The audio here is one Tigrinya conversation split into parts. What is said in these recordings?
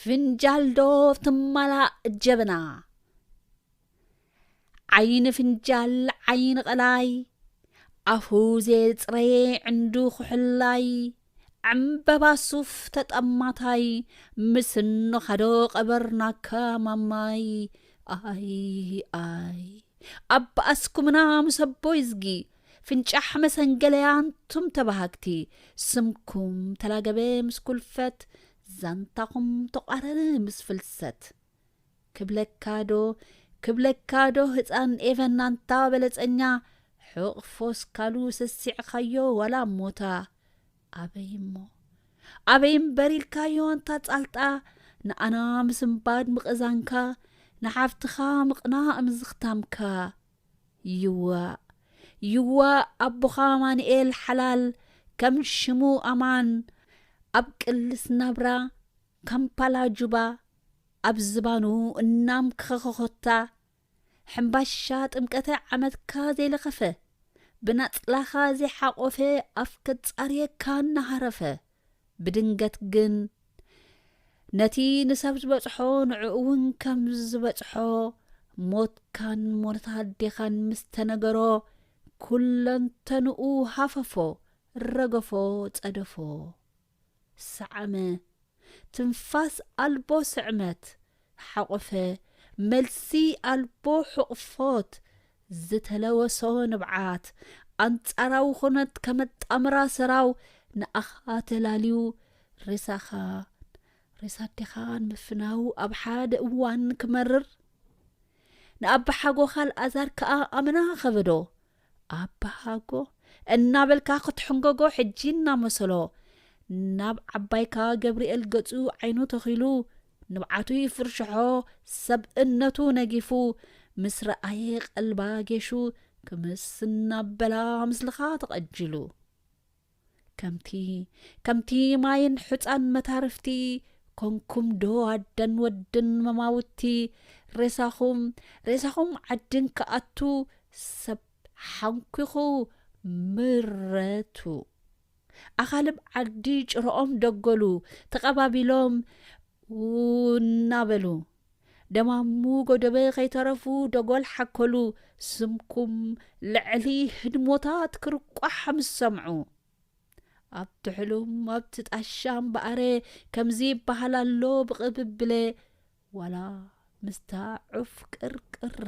ፍንጃል ዶ ትማላእ ጀበና ዓይኒ ፍንጃል ዓይኒ ቐላይ ኣፉ ዘየጽረየ ዕንዱ ኩሕላይ ዕምበባ ሱፍ ተጠማታይ ምስኖ ኻዶ ቐበርናካ ማማይ ኣይ ኣይ ኣባኣስኩምና ምስ ኣቦይዝጊ ፍንጫሕ መሰንገለያ ኣንቱም ተባሃግቲ ስምኩም ተላገበ ምስ ኩልፈት ዛንታኹም ተቋረረ ምስ ፍልሰት ክብለካ ዶ ክብለካ ዶ ህፃን ኤቨን ኣንታ በለፀኛ ሕቕፎስ ካሉ ሰሲዕኻዮ ዋላ ሞታ ኣበይ እሞ ኣበይ እምበር ኢልካዮ ኣንታ ፃልጣ ንኣና ምስንባድ ምቕዛንካ ንሓፍትኻ ምቕናእ ምዝኽታምካ ይዋእ ይዋእ ኣቦኻ ኣማንኤል ሓላል ከም ሽሙ ኣማን ኣብ ቅልስ ናብራ ካምፓላ ጁባ ኣብ ዝባኑ እናም ክኸኸኾታ ሕምባሻ ጥምቀተ ዓመትካ ዘይለኸፈ ብናጽላኻ ዘይሓቆፈ ኣፍ ከጻርየካ እናሃረፈ ብድንገት ግን ነቲ ንሰብ ዝበጽሖ ንዕኡ እውን ከም ዝበጽሖ ሞትካን ሞት ኣዴኻን ምስ ተነገሮ ኩለንተንኡ ሃፈፎ ረገፎ ጸደፎ ሰዓመ ትንፋስ ኣልቦ ስዕመት ሓቆፈ መልሲ ኣልቦ ሕቕፎት ዝተለወሶ ንብዓት ኣንጻራዊ ኩነት ከመጣምራ ሰራው ንኣኻ ተላልዩ ሬሳኻን ሬሳ ኣዴኻን ምፍናው ኣብ ሓደ እዋን ክመርር ንኣባሓጎ ካልኣዛር ከኣ ኣመና ከበዶ ኣባሃጎ እናበልካ ክትሕንጎጎ ሕጂ እናመሰሎ ናብ ዓባይካ ገብርኤል ገጹ ዓይኑ ተኺሉ ንብዓቱ ይፍርሽሖ ሰብ እነቱ ነጊፉ ምስ ረኣየ ቐልባ ጌሹ ክምስ እናበላ ምስልኻ ተቐጅሉ ከምቲ ከምቲ ማይን ሑጻን መታርፍቲ ኮንኩም ዶ ኣደን ወድን መማውቲ ሬሳኹም ሬሳኹም ዓዲ እንክኣቱ ሰብ ሓንኲኹ ምረቱ ኣኻልብ ዓዲ ጭረኦም ደጎሉ ተቐባቢሎም ው እናበሉ ደም ኣብ ሙጎ ደበ ከይተረፉ ደጎል ሓከሉ ስምኩም ልዕሊ ህድሞታት ክርቋሕ ምስ ሰምዑ ኣብ ትሕሉም ኣብቲ ጣሻ እምበኣረ ከምዚ ይበሃል ኣሎ ብቕብብለ ዋላ ምስታ ዑፍ ቅርቅረ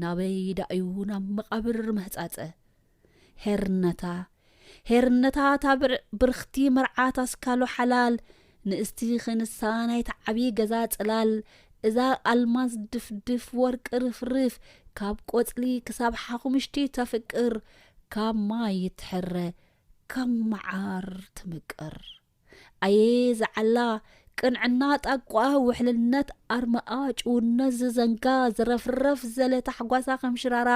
ናበይ ዳእዩ ናብ መቓብር መህጻጸ ሔርነታ ሔርነታ እታ ብርኽቲ መርዓት ኣስካሉ ሓላል ንእስቲ ኽንሳ ናይቲ ዓቢ ገዛ ጽላል እዛ ኣልማዝ ድፍድፍ ወርቂ ርፍርፍ ካብ ቆጽሊ ክሳብ ሓኹምሽቲ ተፍቅር ካብ ማይ ትሕረ ካብ መዓር ትምቅር። ኣየ ዝዓላ ቅንዕና ጣቋኣ ውሕልነት ኣርማኣ ጭውነት ዝዘንጋ ዝረፍረፍ ዘለ ታሕጓሳ ከም ሽራራ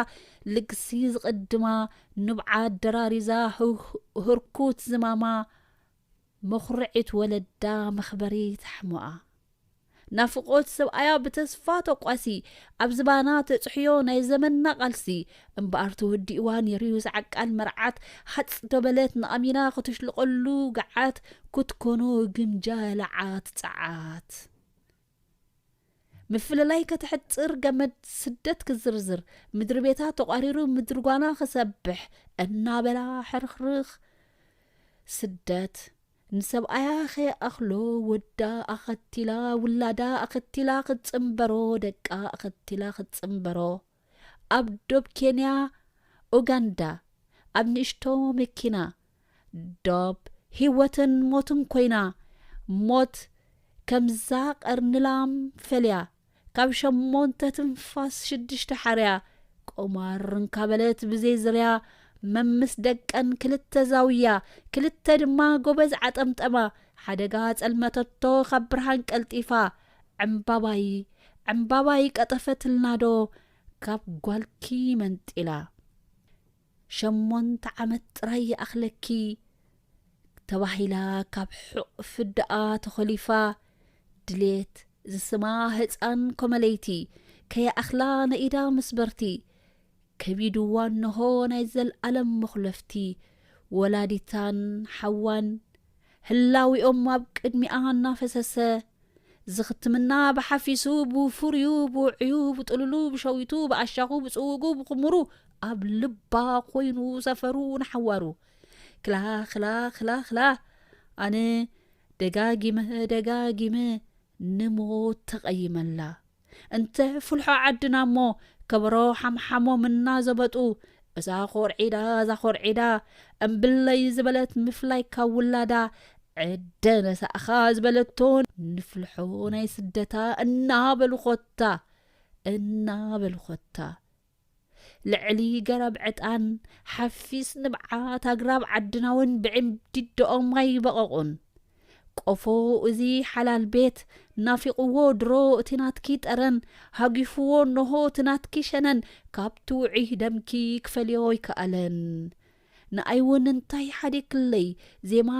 ልግሲ ዝቕድማ ንብዓ ኣደራሪዛ ህርኩት ዝማማ መኹርዒት ወለዳ መኽበሪት ሓሞኣ ናፍቖት ሰብኣያ ብተስፋ ተቋሲ ኣብ ዝባና ተጽሕዮ ናይ ዘመንና ቃልሲ እምበኣር ተወዲእዋ ኔሩዩስ ዓቃል መርዓት ሃጽ ዶ በለት ንኣሚና ክትሽልቐሉ ገዓት ክትኮኖ ግምጃ ለዓት ጸዓት ምፍልላይ ከተሕጽር ገመድ ስደት ክዝርዝር ምድሪ ቤታ ተቋሪሩ ምድሪ ጓና ክሰብሕ እናበላ ሕርኽርኽ ስደት ንሰብኣያ ከይኣኽሎ ወዳ ኣኸቲላ ውላዳ ኣኸቲላ ክትጽንበሮ ደቃ ኣኸቲላ ክትጽንበሮ ኣብ ዶብ ኬንያ ኡጋንዳ ኣብ ንእሽቶ መኪና ዶብ ሂወትን ሞትን ኮይና ሞት ከምዛ ቀርኒ ላም ፈልያ ካብ ሸሞንተ ትንፋስ ሽድሽተ ሓርያ ቁማር እንካበለት ብዘይ ዝርያ መምስ ደቀን ክልተ ዛውያ ክልተ ድማ ጎበዝ ዓጠምጠማ ሓደጋ ጸልመተቶ ካብ ብርሃን ቀልጢፋ ዕምባባይ ዕምባባይ ቀጠፈትልናዶ ካብ ጓልኪ መንጢላ ሸሞንተ ዓመት ጥራይ ይኣኽለኪ ተባሂላ ካብ ሕቕ ፍዳኣ ተኾሊፋ ድሌት ዝስማ ህጻን ኮመለይቲ ከይኣኽላ ነኢዳ ምስበርቲ ከቢዱዋ እነሆ ናይ ዘልኣለም መኹለፍቲ ወላዲታን ሓዋን ህላዌኦም ኣብ ቅድሚኣ እናፈሰሰ፣ ዝኽትምና ብሓፊሱ ብፍሩዩ ብውዑዩ ብጥሉሉ ብሸዊቱ ብኣሻኹ ብጽውጉ ብኹሙሩ ኣብ ልባ ኮይኑ ሰፈሩ ንሓዋሩ ክላ ክላ ክላ ክላ ኣነ ደጋጊመ ደጋጊመ ንሞት ተቐይመላ እንተ ፍልሖ ዓድና እሞ ከበሮ ሓምሓሞም እናዘበጡ እዛ ኮርዒዳ እዛ ኮርዒዳ እምብለይ ዝበለት ምፍላይ ካብ ውላዳ ዕደ ነሳእኻ ዝበለቶ ንፍልሖ ናይ ስደታ እናበሉ ኮታ እናበሉ ኮታ ልዕሊ ገረብ ዕጣን ሓፊስ ንብዓት ኣግራብ ዓድናውን ብዒምዲዶኦም ኣይበቐቑን። ቆፎ እዚ ሓላል ቤት ናፊቑዎ ድሮ እቲ ናትኪ ጠረን፣ ሃጒፉዎ እነሆ እቲ ናትኪ ሸነን ካብቲ ውዑይ ደምኪ ክፈልዮ ኣይከኣለን። ንኣይውን እንታይ ሓዲግክለይ ዜማ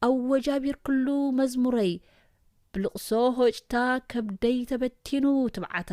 ኣወጃቢርክሉ መዝሙረይ ብልቕሶ ሆጭታ ከብደይ ተበቲኑ ትብዓታ።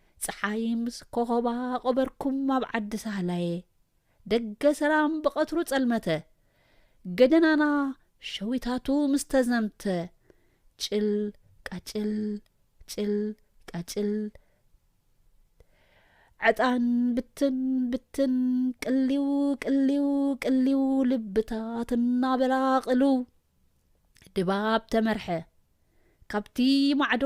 ጸሓይ ምስ ኮኾባ ቐበርኩም ኣብ ዓዲ ሳህላየ ደገ ሰላም ብቐትሩ ጸልመተ ገደናና ሸዊታቱ ምስ ተዘምተ ጭል ቃጭል ጭል ቃጭል ዕጣን ብትን ብትን ቅሊው ቅሊው ቅሊው ልብታት እናበላ ቕልው ድባብ ተመርሐ ካብቲ ማዕዶ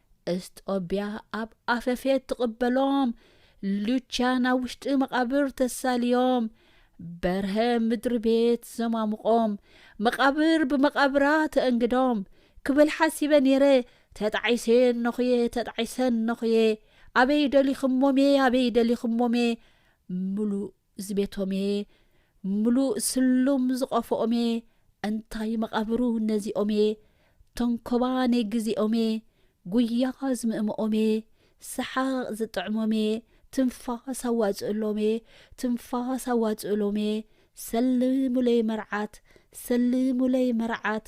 እስጦብያ ኣብ ኣፈፌት ትቕበሎም ሉቻን ኣብ ውሽጢ መቓብር ተሳልዮም በርሀ ምድሪ ቤት ዘማሙቖም መቓብር ብመቓብራ ተእንግዶም ክብል ሓሲበ ነይረ ተጣዒሰ ነኹየ ተጣዒሰ ነኹየ ኣበይ ደሊኽሞሜ ኣበይ ደሊኽሞሜ ምሉእ እዚ ቤቶም እየ ምሉእ ስሉም ዝቆፎኦም እየ እንታይ መቃብሩ ነዚኦም እየ ተንኮባ ነይ ግዜኦም እየ ጉያ ዝምእምኦም እየ ሰሓቅ ዝጥዕሞም እየ ትንፋስ ኣዋጽእሎም እየ ትንፋስ ኣዋጽእሎም እየ ሰልሙለይ መርዓት ሰልሙለይ መርዓት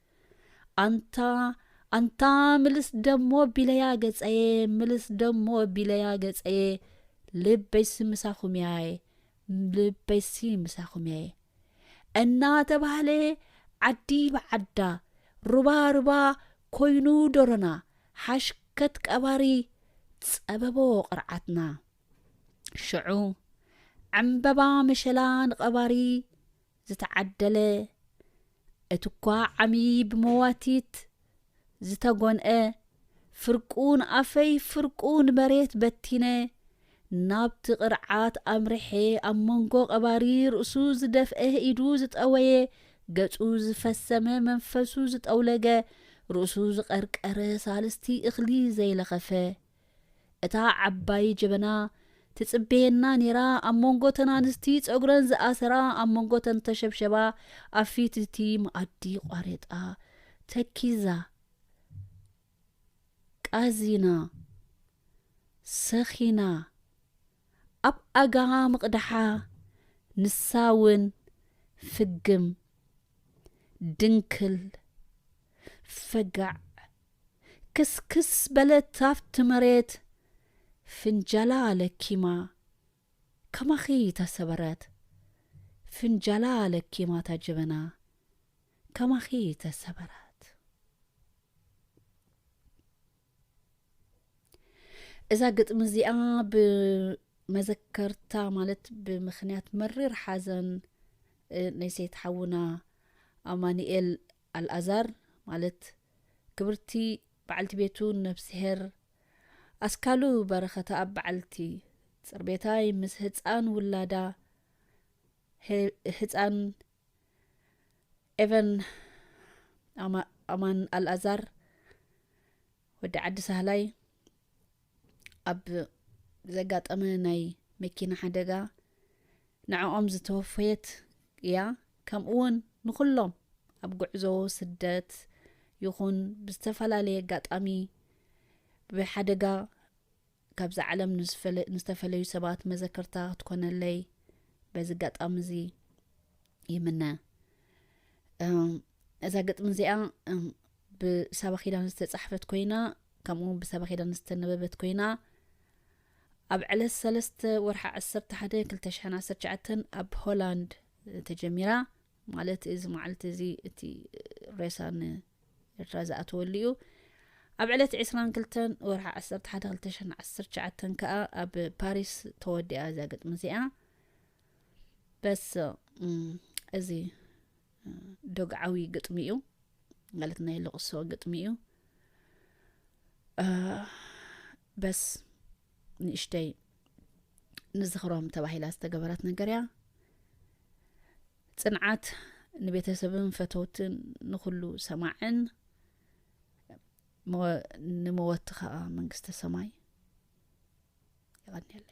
ኣንታ ኣንታ ምልስ ደሞ ቢለያ ገጸየ ምልስ ደሞ ቢለያ ገጸየ ልበይሲ ምሳኹም ያየ ልበይሲ ምሳኹም ያየ እናተባህለ ዓዲ ብዓዳ ሩባ ሩባ ኮይኑ ዶሮና ሓሽከት ቀባሪ ጸበቦ ቅርዓትና ሽዑ ዕምበባ መሸላ ንቐባሪ ዝተዓደለ እቲኳ ዓሚ ብመዋቲት ዝተጎንኤ ፍርቁ ንኣፈይ ፍርቁ ንመሬት በቲነ ናብቲ ቅርዓት ኣምርሔ ኣብ መንጎ ቀባሪ ርእሱ ዝደፍኤ ኢዱ ዝጠወየ ገጹ ዝፈሰመ መንፈሱ ዝጠውለገ ርእሱ ዝቀርቀረ ሳልስቲ እኽሊ ዘይለኸፈ እታ ዓባይ ጀበና ትጽበየና ኔራ ኣብ መንጎ እተን ኣንስቲ ጸጉረን ዝኣሰራ ኣብ መንጎ እተን ተሸብሸባ ኣብ ፊት እቲ መኣዲ ቋሬጣ ተኪዛ ቃዚና ሰኺና ኣብ ኣጋ ምቕዳሓ ንሳ ውን ፍግም ድንክል ፈጋዕ ክስክስ በለት ኣብቲ መሬት ፍንጃላ ለኪማ ከማኺ ተሰበረት ፍንጃላ ለኪማ እታ ጀበና ከማኺ ተሰበረት። እዛ ግጥሚ እዚኣ ብመዘከርታ ማለት ብምክንያት መሪር ሓዘን ናይ ሴት ሓውና ኣማኒኤል ኣልኣዛር ማለት ክብርቲ በዓልቲ ቤቱ ነፍስሄር ኣስካሉ በረኸተኣብ በዓልቲ ጽርቤታይ ምስ ህጻን ውላዳ ህጻን ኤቨን ኣማን ኣልኣዛር ወዲ ዓዲ ሳህላይ ኣብ ዘጋጠመ ናይ መኪና ሓደጋ ንዕኦም ዝተወፈየት እያ ከምኡ ውን ንኩሎም ኣብ ጉዕዞ ስደት ይኹን ብዝተፈላለየ ኣጋጣሚ ብሓደጋ ካብዛ ዓለም ንዝፈለ ንዝተፈለዩ ሰባት መዘከርታ ክትኮነለይ በዚ ኣጋጣሚ እዚ ይምነ እዛ ግጥሚ እዚኣ ብሰባ ኪዳን ዝተፃሕፈት ኮይና ከምኡ ውን ብሰባ ኪዳን ዝተነበበት ኮይና ኣብ ዕለት ሰለስተ ወርሓ ዓሰርተ ሓደ ክልተ ሽሕን ዓሰርተ ሸዓተን ኣብ ሆላንድ ተጀሚራ ማለት እዚ መዓልቲ እዚ እቲ ሬሳ ንኤርትራ ዝኣተወሉ እዩ። ኣብ ዕለት ዕስራን ክልተን ወርሒ ዓሰርተ ሓደ ክልተ ሽሕን ዓሰርተ ትሽዓተን ከኣ ኣብ ፓሪስ ተወዲኣ እዛ ግጥሚ እዚኣ በስ እዚ ዶግዓዊ ግጥሚ እዩ ማለት ናይ ልቕሶ ግጥሚ እዩ በስ ንእሽተይ ንዝኽሮም ተባሂላ ዝተገበረት ነገር እያ ፅንዓት ንቤተሰብን ፈተውትን ንኩሉ ሰማዕን ንመወቲ ከዓ መንግስተ ሰማይ ይቀኒለይ